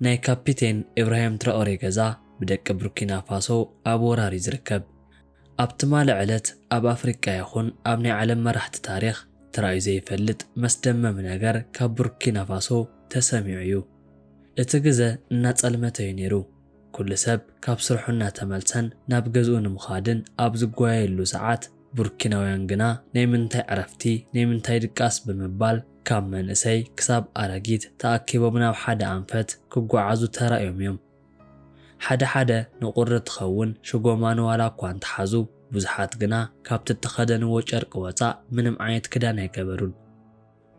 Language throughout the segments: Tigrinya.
ናይ ካፒቴን ኢብራሂም ትራኦሬ ገዛ ብደቂ ቡርኪና ፋሶ ኣብ ወራር እዩ ዝርከብ። ኣብ ትማሊ ዕለት ኣብ ኣፍሪቃ ይኹን ኣብ ናይ ዓለም መራሕቲ ታሪኽ ተራእዩ ዘይፈልጥ መስደመሚ ነገር ካብ ቡርኪና ፋሶ ተሰሚዑ እዩ። እቲ ግዘ እናፀልመተ እዩ ነይሩ። ኩሉ ሰብ ካብ ስርሑ እናተመልሰን ናብ ገዝኡ ንምኻድን ኣብ ዝጓየየሉ ሰዓት፣ ቡርኪናውያን ግና ናይ ምንታይ ዕረፍቲ ናይ ምንታይ ድቃስ ብምባል ካብ መንእሰይ ክሳብ ኣረጊት ተኣኪቦም ናብ ሓደ ኣንፈት ክጓዓዙ ተራእዮም እዮም። ሓደ ሓደ ንቁሪ ትኸውን ሽጎማን ዋላ እኳ እንተሓዙ ብዙሓት ግና ካብቲ እተኸደንዎ ጨርቂ ወጻእ ምንም ዓይነት ክዳን ኣይገበሩን።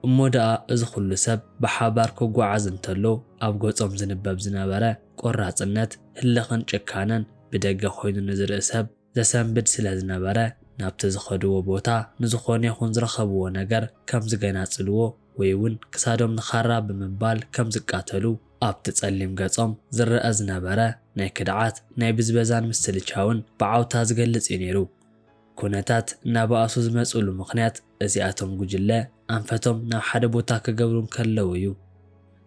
እሞ ደኣ እዚ ኩሉ ሰብ ብሓባር ክጓዓዝ እንተሎ ኣብ ገጾም ዝንበብ ዝነበረ ቆራጽነት፣ ህልኽን ጭካነን ብደገ ኮይኑ ንዝርኢ ሰብ ዘሰንብድ ስለ ዝነበረ፣ ናብቲ ዝኸድዎ ቦታ ንዝኾነ ይኹን ዝረኸብዎ ነገር ከም ዝገናጽልዎ ወይ'ውን ክሳዶም ንኻራ ብምባል ከም ዝቃተሉ ኣብቲ ጸሊም ገጾም ዝረኣ ዝነበረ ናይ ክድዓት፣ ናይ ብዝበዛን ምስልቻውን ብዓውታ ዝገልጽ'ዩ ነይሩ። ኩነታት እናበኣሱ ዝመጽእሉ ምኽንያት፣ እዚኣቶም ጉጅለ ኣንፈቶም ናብ ሓደ ቦታ ክገብሩ እንከለዉ እዩ።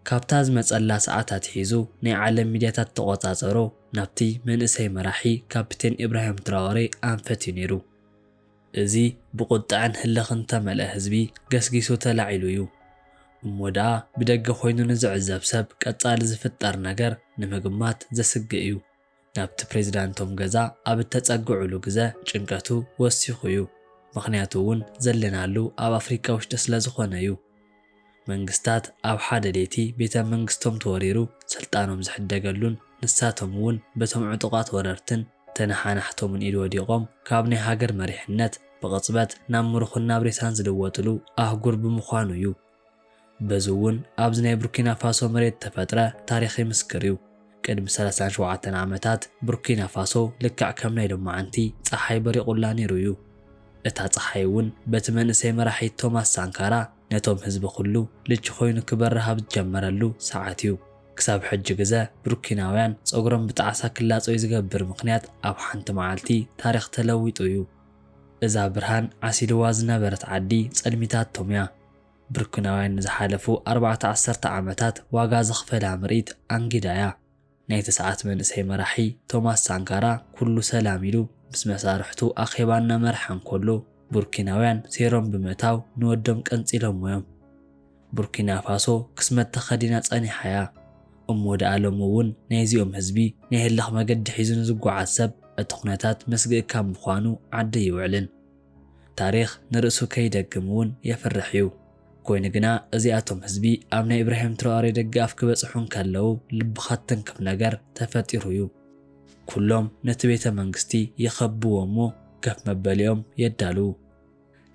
ካብታ ዝመጸላ ሰዓት ኣትሒዙ ናይ ዓለም ሚድያታት ተቖጻጸሩ ናብቲ መንእሰይ መራሒ ካፒቴን ኢብራሂም ትራወሬ ኣንፈት እዩ ነይሩ። እዚ ብቑጠዐን ህልኽን እተመልአ ህዝቢ ገስጊሱ ተላዒሉ እዩ። እሞ ደኣ ብደገ ኮይኑ ንዝዕዘብ ሰብ ቀጻሊ ዝፍጠር ነገር ንምግማት ዘስግእ እዩ። ናብቲ ፕሬዚዳንቶም ገዛ ኣብ እተፀግዑሉ ግዘ ጭንቀቱ ወሲኹ ዩ ምኽንያቱ ውን ዘለናሉ ኣብ ኣፍሪካ ውሽጢ ስለ ዝኾነ ዩ መንግስታት ኣብ ሓደ ሌቲ ቤተ መንግስቶም ተወሪሩ ስልጣኖም ዝሕደገሉን ንሳቶም ውን በቶም ዕጡቓት ወረርትን ተነሓናሕቶምን ኢድ ወዲቖም ካብ ናይ ሃገር መሪሕነት ብቕፅበት ናብ ምሩኽን ናብ ሬሳን ዝልወጥሉ ኣህጉር ብምዃኑ ዩ በዚ እውን ኣብዚ ናይ ቡርኪና ፋሶ መሬት እተፈጥረ ታሪኽ ይምስክር እዩ። ቅድሚ ሰላሳን ሸውዓተን ዓመታት ቡርኪና ፋሶ ልክዕ ከም ናይ ሎማዓንቲ ጸሓይ በሪቑላ ነይሩ እዩ። እታ ጸሓይ እውን በቲ መንእሰይ መራሒ ቶማስ ሳንካራ ነቶም ህዝቢ ኩሉ ልቺ ኮይኑ ክበርህ ኣብ ዝጀመረሉ ሰዓት እዩ። ክሳብ ሕጂ ግዘ ቡርኪናውያን ጸጉሮም ብጣዕሳ ክላጸዩ ዝገብር ምኽንያት ኣብ ሓንቲ መዓልቲ ታሪኽ ተለዊጡ እዩ። እዛ ብርሃን ዓሲልዋ ዝነበረት ዓዲ ጸልሚታት ቶምያ። ብርኩናውያን ንዝሓለፉ ኣርባዕተ ዓሰርተ ዓመታት ዋጋ ዘኽፈላ ምርኢት ኣንጊዳያ። ናይ ተስዓት መንእሰይ መራሒ ቶማስ ሳንካራ ኩሉ ሰላም ኢሉ ምስ መሳርሕቱ ኣኼባ እናመርሐ እንከሎ፣ ቡርኪናውያን ሴሮም ብምእታው ንወዶም ቀንጺሎሞ'ዮም። ቡርኪናፋሶ ክስመት ተኸዲና ጸኒሓ'ያ እሞ ደኣ ሎሚ'ውን ናይዚኦም ህዝቢ ናይ ህልኽ መገዲ ሒዙ ንዝጓዓዝ ሰብ እቲ ኩነታት መስግኢ ካብ ምዃኑ ዓዲ ኣይውዕልን። ታሪኽ ንርእሱ ከይደግም'ውን የፍርሕ'ዩ። ኮይኑ ግና እዚኣቶም ህዝቢ ኣብ ናይ ኢብራሂም ትራኦሬ ደገኣፍ ክበጽሑ እንከለዉ ልብኻ ትትንክፍ ነገር ተፈጢሩ'ዩ። ኩሎም ነቲ ቤተ መንግስቲ ይኸብብዎ'ሞ ከፍ መበሊኦም የዳልዉ።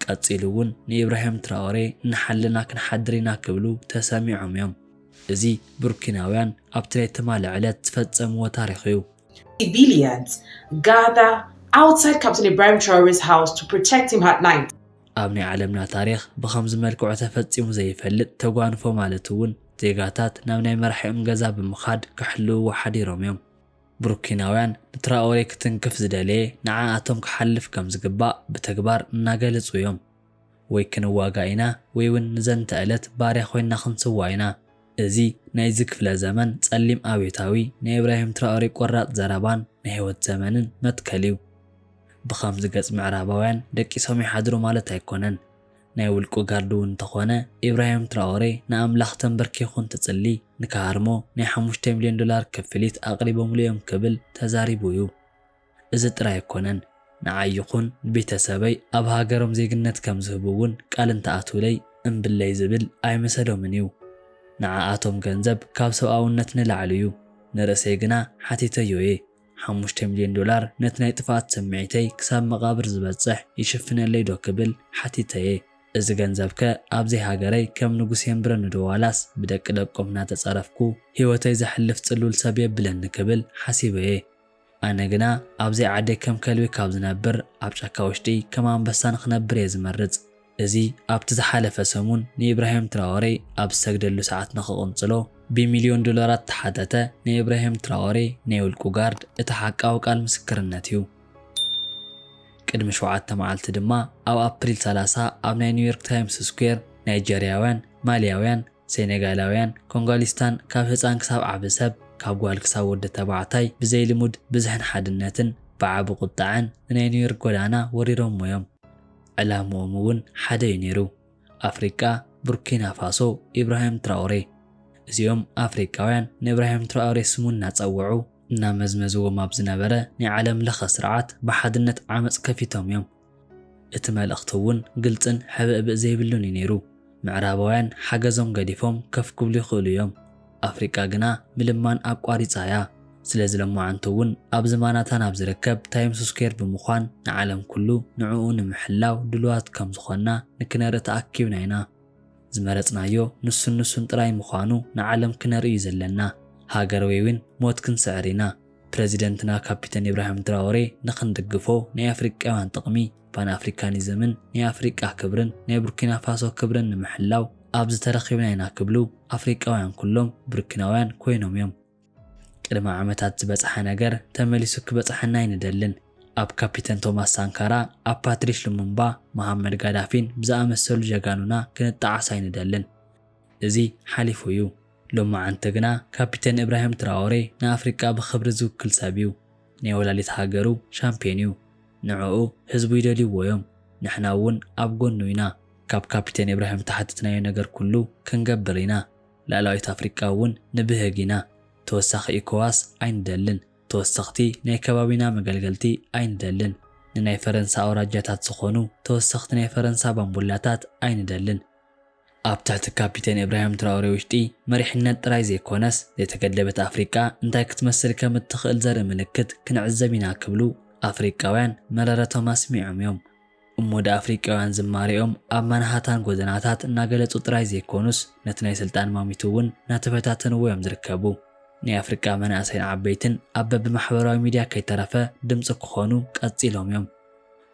ቀጺሉ እውን ንኢብራሂም ትራኦሬ እናሓለና ክንሓድር ኢና ክብሉ ተሰሚዖም እዮም። እዚ ቡርኪናውያን ኣብቲ ናይ ትማሊ ዕለት ዝፈጸምዎ ታሪኽ እዩ። civilians gather outside ካብቲ ናይ Ibrahim Traore's house to protect him at night። ኣብ ናይ ዓለምና ታሪኽ ብኸምዚ መልክዑ ተፈጺሙ ዘይፈልጥ ተጓንፎ ማለት እውን ዜጋታት ናብ ናይ መራሒኦም ገዛ ብምኻድ ክሕልውዎ ሓዲሮም እዮም። ብሩኪናውያን ንትራኦሬ ክትንክፍ ዝደለየ ንዓኣቶም ክሓልፍ ከም ዝግባእ ብተግባር እናገለጹ እዮም። ወይ ክንዋጋእ ኢና ወይ ውን ንዘንተ እለት ባርያ ኮይንና ክንስዋእ ኢና። እዚ ናይዚ ክፍለ ዘመን ጸሊም ኣብዮታዊ ናይ ኢብራሂም ትራኦሬ ቆራጽ ዘረባን ናይ ህይወት ዘመንን መትከል እዩ። ብኸምዚ ገጽ ምዕራባውያን ደቂሶም ይሓድሩ ማለት ኣይኮነን። ናይ ውልቁ ጋርዲ ውን እንተኾነ ኢብራሂም ትራኦሬ ንኣምላኽ ተምበርኪኹ እንትጽሊ ንክሃርሞ ናይ ሓሙሽተ ሚልዮን ዶላር ክፍሊት ኣቕሪቦምሉ እዮም ክብል ተዛሪቡ እዩ። እዚ ጥራይ ኣይኮነን ንዓይ ይኹን ንቤተሰበይ ኣብ ሃገሮም ዜግነት ከም ዝህቡ ውን ቃል እንተኣትውለይ እምብለይ ዝብል ኣይምሰዶምን እዩ። ንዓኣቶም ገንዘብ ካብ ሰብኣውነት ንላዕሊ እዩ። ንርእሰይ ግና ሓቲተዮ እየ። ሓሙሽተ ሚልዮን ዶላር ነቲ ናይ ጥፍኣት ስምዒተይ ክሳብ መቓብር ዝበጽሕ ይሽፍነለይ ዶ ክብል ሓቲተ'የ። እዚ ገንዘብ'ከ ኣብ ዘይሃገረይ ከም ንጉስ የንብረኒ'ዶ ዋላስ ብደቂ ደቆም እናተጸረፍኩ ህይወተይ ዘሕልፍ ጽሉል ሰብ የብለኒ ክብል ሓሲበ'የ። ኣነ ግና ኣብ ዘይዓደይ ከም ከልቢ ካብ ዝነብር ኣብ ጫካ ውሽጢ ከም ኣንበሳ ንኽነብር'የ ዝመርጽ። እዚ ኣብቲ ዝሓለፈ ሰሙን ንኢብራሂም ትራወሬ ኣብ ዝሰግደሉ ሰዓት ንኽቕንጽሎ ብሚልዮን ዶላራት እተሓተተ ናይ ኢብራሂም ትራወሬ ናይ ውልቁ ጋርድ እቲ ሓቃዊ ቃል ምስክርነት እዩ። ቅድሚ ሸውዓተ መዓልቲ ድማ ኣብ ኣፕሪል ሰላሳ ኣብ ናይ ኒውዮርክ ታይምስ ስኩዌር ናይጀርያውያን፣ ማልያውያን፣ ሴኔጋላውያን፣ ኮንጓሊስታን ካብ ህጻን ክሳብ ዓቢ ሰብ ካብ ጓል ክሳብ ወዲ ተባዕታይ ብዘይልሙድ ብዝሕን ሓድነትን ብዓቢ ቁጠዐን ንናይ ኒውዮርክ ጎዳና ወሪሮሞ እዮም። ዕላምኦም እውን ሓደ እዩ ነይሩ። ኣፍሪቃ፣ ቡርኪናፋሶ፣ ኢብራሂም ትራኦሬ። እዚኦም ኣፍሪቃውያን ንእብራሂም ትራኦሬ ስሙ እናጸውዑ፣ እናመዝመዝዎም ኣብ ዝነበረ ናይ ዓለም ለኸ ስርዓት ብሓድነት ዓመጽ ከፊቶም እዮም። እቲ መልእኽቲ እውን ግልጽን ሕብእብእ ዘይብሉን እዩ ነይሩ። ምዕራባውያን ሓገዞም ገዲፎም ከፍ ክብሉ ይኽእሉ እዮም፣ ኣፍሪቃ ግና ምልማን ኣቋሪጻ እያ። ስለዚ ሎማዓንቲ እውን ኣብ ዝማናታን ኣብ ዝርከብ ታይምስ ስኩዌር ብምዃን ንዓለም ኩሉ ንዕኡ ንምሕላው ድሉዋት ከም ዝኾንና ንክነርኢ ተኣኪብና ኢና። ዝመረጽናዮ ንሱን ንሱን ጥራይ ምዃኑ ንዓለም ክነርኢ እዩ ዘለና። ሃገር ወይ እውን ሞት ክንስዕር ኢና። ፕረዚደንትና ካፒተን ኢብራሂም ትራኦሬ ንክንድግፎ ናይ ኣፍሪቃውያን ጥቕሚ ፓን ኣፍሪካኒዝምን ናይ ኣፍሪቃ ክብርን ናይ ቡርኪናፋሶ ክብርን ንምሕላው ኣብዚ ተረኺብና ኢና ክብሉ ኣፍሪቃውያን ኩሎም ቡርኪናውያን ኮይኖም እዮም። ቅድሚ ዓመታት ዝበጽሐ ነገር ተመሊሱ ክበጽሐና ኣይንደልን። ኣብ ካፒተን ቶማስ ሳንካራ፣ ኣብ ፓትሪሽ ሉሙምባ፣ መሃመድ ጋዳፊን ብዝኣመሰሉ ጀጋኑና ክንጠዓስ ኣይንደልን። እዚ ሓሊፉ እዩ። ሎማዓንቲ ግና ካፒተን እብራሂም ትራኦሬ ንኣፍሪቃ ብኽብሪ ዝውክል ሰብ እዩ። ናይ ወላዲት ሃገሩ ሻምፕዮን እዩ ንዑኡ ህዝቡ ይደልይዎ እዮም ንሕና እውን ኣብ ጎኑ ኢና ካብ ካፒቴን ኢብራሂም ዝተሓተትናዮ ነገር ኩሉ ክንገብር ኢና ላእላዊት ኣፍሪቃ እውን ንብህግ ኢና ተወሳኺ ኢኮዋስ ኣይንደልን ተወሰኽቲ ናይ ከባቢና መገልገልቲ ኣይንደልን ንናይ ፈረንሳ ኣውራጃታት ዝኾኑ ተወሰኽቲ ናይ ፈረንሳ ባምቡላታት ኣይንደልን ኣብ ትሕቲ ካፒቴን ኢብራሂም ትራኦሬ ውሽጢ መሪሕነት ጥራይ ዘይኮነስ ዘይተገደበት ኣፍሪቃ እንታይ ክትመስል ከም እትኽእል ዘርኢ ምልክት ክንዕዘብ ኢና ክብሉ ኣፍሪቃውያን መረረቶም ኣስሚዖም እዮም። እሞ ድኣ ኣፍሪቃውያን ዝማሬኦም ኣብ ማንሃታን ጎደናታት እናገለጹ ጥራይ ዘይኮኑስ ነቲ ናይ ስልጣን ማሚቱ እውን እናተፈታተንዎ እዮም ዝርከቡ። ናይ ኣፍሪቃ መናእሰይን ዓበይትን ኣብ በብማሕበራዊ ሚድያ ከይተረፈ ድምጺ ክኾኑ ቀጺሎም እዮም።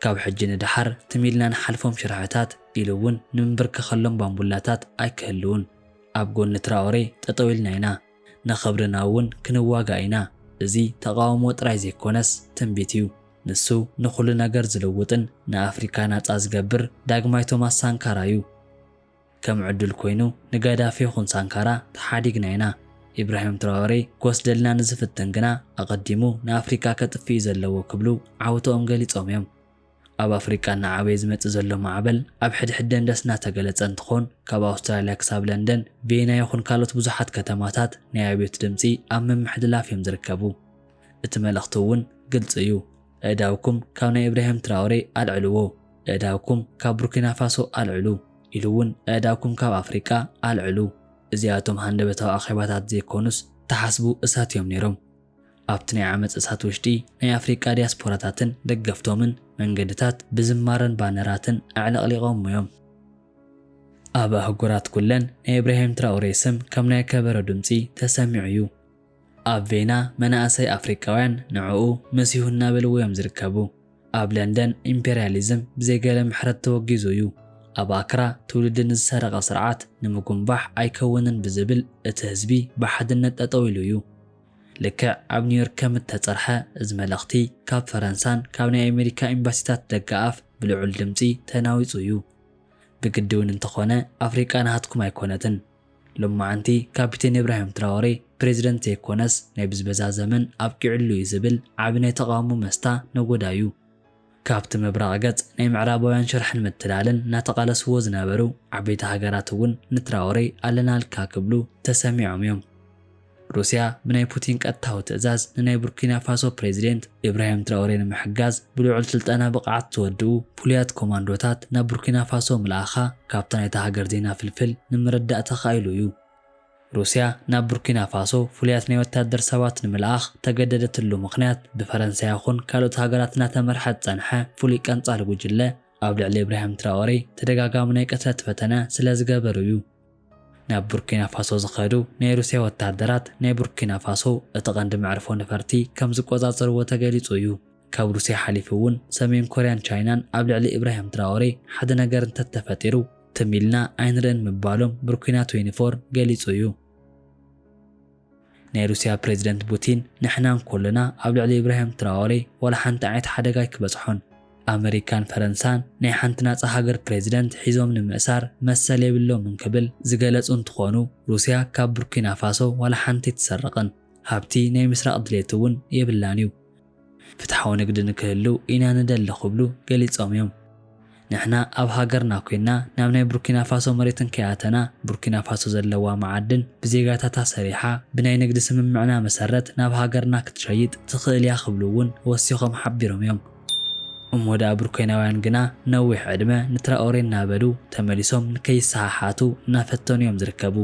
ካብ ሕጂ ንደሓር ትም ኢልና ንሓልፎም ሽርሕታት ኢሉ እውን ንምንብርከኸሎም ባምቡላታት ኣይክህልውን። ኣብ ጎኒ ትራኦሬ ጠጠው ኢልና ኢና። ንኽብርና እውን ክንዋጋእ ኢና። እዚ ተቓውሞ ጥራይ ዘይኮነስ ትንቢት እዩ። ንሱ ንኹሉ ነገር ዝልውጥን ንኣፍሪካ ናጻ ዝገብር ዳግማይ ቶማስ ሳንካራ እዩ። ከም ዕዱል ኮይኑ ንጋዳፊ ይኹን ሳንካራ ተሓዲግና ኢና። ኢብራሂም ትራወሬ ክወስደልና ንዝፍትን ግና ኣቐዲሙ ንኣፍሪቃ ከጥፍእ እዩ ዘለዎ ክብሉ ዓውተኦም ገሊጾም እዮም። ኣብ ኣፍሪቃ እናዓበየ ዝመጽእ ዘሎ ማዕበል ኣብ ሕድሕድ ደንደስ እናተገለጸ እንትኾን ካብ ኣውስትራልያ ክሳብ ለንደን፣ ቪየና ይኹን ካልኦት ብዙሓት ከተማታት ናይ ኣብዮት ድምጺ ኣብ ምምሕልላፍ እዮም ዝርከቡ። እቲ መልእኽቲ እውን ግልጺ እዩ። ኣእዳውኩም ካብ ናይ እብራሂም ትራኦሬ ኣልዕልዎ፣ ኣእዳውኩም ካብ ቡርኪናፋሶ ኣልዕሉ፣ ኢሉ እውን ኣእዳውኩም ካብ ኣፍሪቃ ኣልዕሉ፣ እዚኣቶም ሃንደበታዊ ኣኼባታት ዘይኮኑስ ተሓስቡ እሳት እዮም ነይሮም። ኣብቲ ናይ ዓመጽ እሳት ውሽጢ ናይ ኣፍሪቃ ዲያስፖራታትን ደገፍቶምን መንገድታት ብዝማረን ባነራትን ኣዕለቕሊቖሞ እዮም። ኣብ ኣህጉራት ኩለን ናይ እብራሂም ትራኦሬ ስም ከም ናይ ከበሮ ድምጺ ተሰሚዑ እዩ። ኣብ ቬና መናእሰይ ኣፍሪቃውያን ንዕኡ መሲሁ እናበልዎ እዮም ዝርከቡ። ኣብ ለንደን ኢምፔርያሊዝም ብዘይ ገለ ምሕረት ተወጊዙ እዩ። ኣብ ኣክራ ትውልዲ ንዝሰረቐ ስርዓት ንምጉንባሕ ኣይከውንን ብዝብል እቲ ህዝቢ ብሓድነት ጠጠው ኢሉ እዩ። ልክዕ ኣብ ኒውዮርክ ከም እተጸርሐ እዚ መልእኽቲ ካብ ፈረንሳን ካብ ናይ ኣሜሪካ ኤምባሲታት ደገኣፍ ብልዑል ድምጺ ተናዊጹ እዩ። ብግዲ እውን እንተኾነ ኣፍሪቃ ናሃትኩም ኣይኮነትን። ሎማዓንቲ ካፒቴን እብራሂም ትራወሬ ፕሬዝደንት ዘይኮነስ ናይ ብዝበዛ ዘመን ኣብቂዑሉ እዩ ዝብል ዓቢ ናይ ተቓውሞ መስታ ነጎዳ እዩ። ካብቲ ምብራቕ ገጽ ናይ ምዕራባውያን ሽርሕን ምትላልን እናተቓለስዎ ዝነበሩ ዓበይቲ ሃገራት እውን ንትራወሬ ኣለናልካ ክብሉ ተሰሚዖም እዮም። ሩስያ ብናይ ፑቲን ቀጥታዊ ትእዛዝ ንናይ ቡርኪና ፋሶ ፕሬዚደንት ኢብራሂም ትራኦሬ ንምሕጋዝ ብልዑል ስልጠና ብቕዓት ዝወድኡ ፍሉያት ኮማንዶታት ናብ ቡርኪና ፋሶ ምልኣኻ ካብታ ናይታ ሃገር ዜና ፍልፍል ንምርዳእ ተኻኢሉ እዩ። ሩስያ ናብ ቡርኪና ፋሶ ፍሉያት ናይ ወታደር ሰባት ንምልኣኽ ተገደደትሉ ምኽንያት ብፈረንሳ ይኹን ካልኦት ሃገራት እናተመርሐ ዝፀንሐ ፍሉይ ቀንፃሊ ጉጅለ ኣብ ልዕሊ ኢብራሂም ትራኦሬ ተደጋጋሚ ናይ ቅትለት ፈተነ ስለዝገበሩ እዩ። ናብ ቡርኪና ፋሶ ዝኸዱ ናይ ሩስያ ወተሃደራት ናይ ቡርኪና ፋሶ እቲ ቀንዲ መዕርፎ ነፈርቲ ከም ዝቆጻጸርዎ ተገሊጹ እዩ። ካብ ሩስያ ሓሊፉ እውን ሰሜን ኮርያን ቻይናን ኣብ ልዕሊ ኢብራሂም ትራኦሬ ሓደ ነገር እንተተፈጢሩ ትም ኢልና ኣይንርእን ምባሎም ቡርኪና ትዌንቲፎር ገሊጹ እዩ። ናይ ሩስያ ፕረዚደንት ቡቲን ንሕና እንኮለና ኣብ ልዕሊ ኢብራሂም ትራኦሬ ዋላ ሓንቲ ዓይነት ሓደጋ ኣይክበጽሖን። ኣመሪካን ፈረንሳን ናይ ሓንቲ ናጻ ሃገር ፕረዚደንት ሒዞም ንምእሳር መሰል የብሎምን ክብል ዝገለጹ እንትኾኑ ሩስያ ካብ ቡርኪናፋሶ ዋላ ሓንቲ ኣይትሰርቕን። ሃብቲ ናይ ምስራቕ ድሌት'ውን የብላን'ዩ። ፍትሓዊ ንግዲ ንክህልው ኢና ንደሊ ክብሉ ገሊፆም እዮም። ንሕና ኣብ ሃገርና ኮይንና ናብ ናይ ቡርኪናፋሶ መሬት እንከይኣተና ቡርኪናፋሶ ዘለዋ መዓድን ብዜጋታታ ሰሪሓ ብናይ ንግዲ ስምምዕና መሰረት ናብ ሃገርና ክትሸይጥ ትኽእል እያ ክብሉ እውን ወሲኾም ሓቢሮም እዮም። እሞ ድኣ ቡርኬናውያን ግና ነዊሕ ዕድመ ንትራኦሬ እናበሉ ተመሊሶም ንከይሰሓሓቱ እናፈተኑ እዮም ዝርከቡ።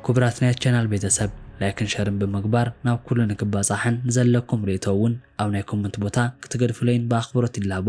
ኩቡራት ናይ ቻናል ቤተሰብ ላይክን ሸርን ብምግባር ናብ ኩሉ ንክባጻሕን ንዘለኩም ሪኢቶ ውን ኣብ ናይ ኮመንት ቦታ ክትገድፉለይን ብኣክብሮት ይላቦ።